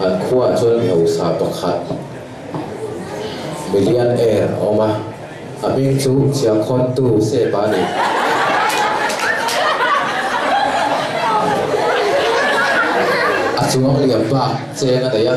An khuaah chuan mi hausa pakhat millionaire a awm a, a ming chu Chiangkhawntu Sepa a ni. A chuang liam bak cheng a nei a.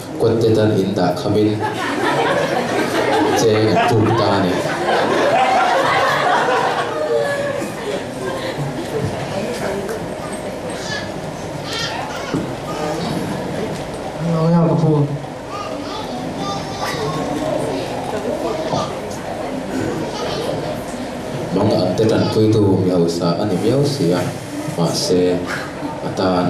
Kawtte tan in dah kham in cheng an tum ta a ni. Mawng ang te tan puitu mi hausa a ni miau si a, mahse a tan.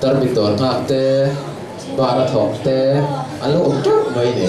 Tarmit dawr nghak te, bar a thawk te an lo awm teuh mai ni.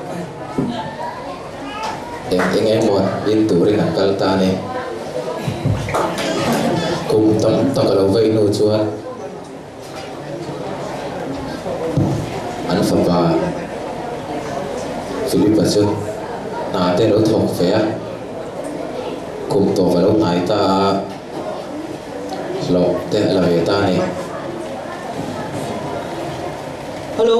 Eng eng emaw in turin an kal ta ni. Kum tam tak a lo vei nu chuan an fapa Filipa chu hna te a lo thawk ve a, kum tawp a lo hnai ta a, hlawh te a la ve ta a ni. Hello.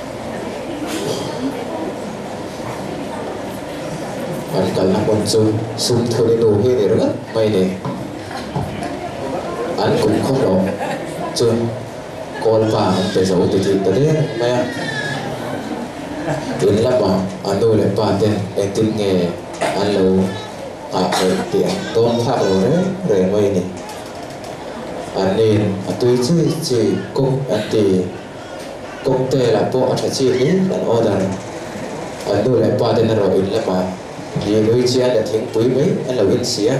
An kalna hmun chu Sumthuli nu hi ni ringawt mai ni. An kum khawp lo chuan Kawlpa an pe zo ti tih ta der mai a. In lama a nu leh pa ten engtin nge an lo nghah theih tih a dawng thlak lo reng reng mai ni. An ni'n a tui chui chui kawk an ti. Cocktail ah pawh a tha chi hle an order a. An nu leh pa ten a rawh in lem a, ri nui chian leh thingpui mai an lo in si a.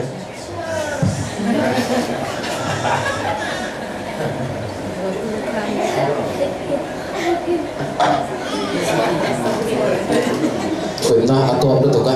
Thutna a kawm lutuk a.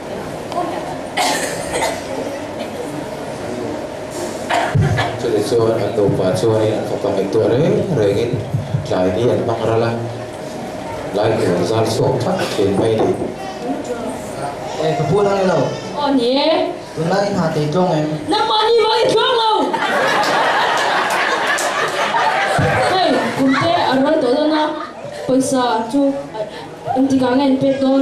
Chutih chuan an nupa chuanin an fapa ngaih tuah reng rengin tlai hi an hmang ral a, lai tur zar suak tak a fiam mai ni. E, ka pu lai lo. Aw ni e. Tunlai i nghah tei tawng em? Nangmah ni loh i tluang lo. Hei, kum te a rual tawh dawn a, pawisa chu engtikah nge an pek dawn?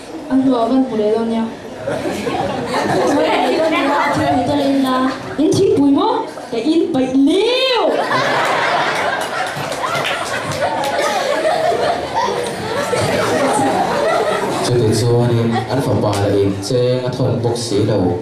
A hnuah van hmu leh lo nia. In thingpui maw? Ka in paih leu! Chutichuan in an fapa lah in cheng a thawk bawk si lo.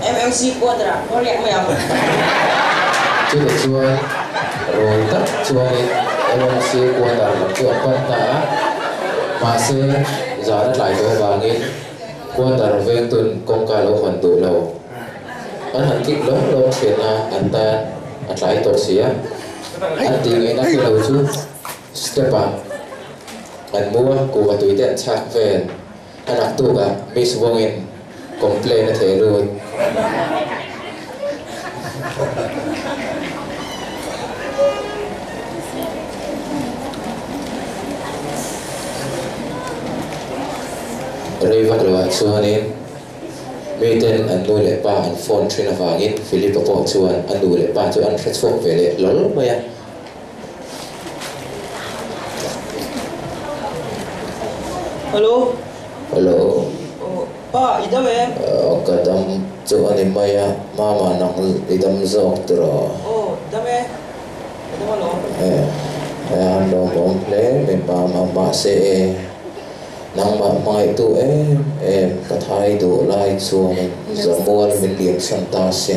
MMC quarter ah khaw riak mai ang. Chutah chuan rawi tak chuangin MMC quarter lam chu a pan ta a, mahse zan a tlai tawh avangin quarter veng tun kawngka lo hawn duh lo. An han kik lawm lawm thian a an tan a tlai tawh si a, an tih ngei na kilo chu step ah an mu a, kuhva tui te an chhak vel. Ka rak tuk a, Miss Wong in complain a thei lut. Rei vak lo ah chuanin mi ten an nu leh pa an phone thin avangin Philip-a pawh chuan a nu leh pa chu an hre chhuak ve leh lawlh mai a. Hello. Hello. Oh, pa, i dam em? Oh, ka dam chu a ni mai a. Mama nang i dam zawk tur aw. Oh, dam e. Ka dam alawm. Eh, eh, han lawmawm hle mai mama, mahse e, nangmah hmangaih tu em em ka thai duh lai chuan in zamual min liam chhan ta se.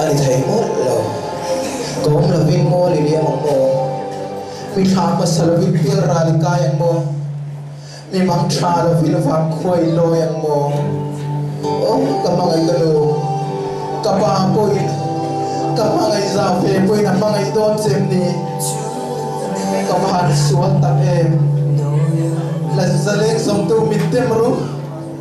A ni thei ngawt lo. Ka awm lovin maw le liam ang maw? Mi tha hmasa lovin hmir ral i kai ang maw? Mi bang tha lovin vang khua i lawi ang maw? Aw, ka hmangaih ka nu. Ka pa pawhin ka hmangaih za ve pawhin a hmangaih dawn chem ni. Ka van sual tak em. Lazaleng zawmtu min tem ru.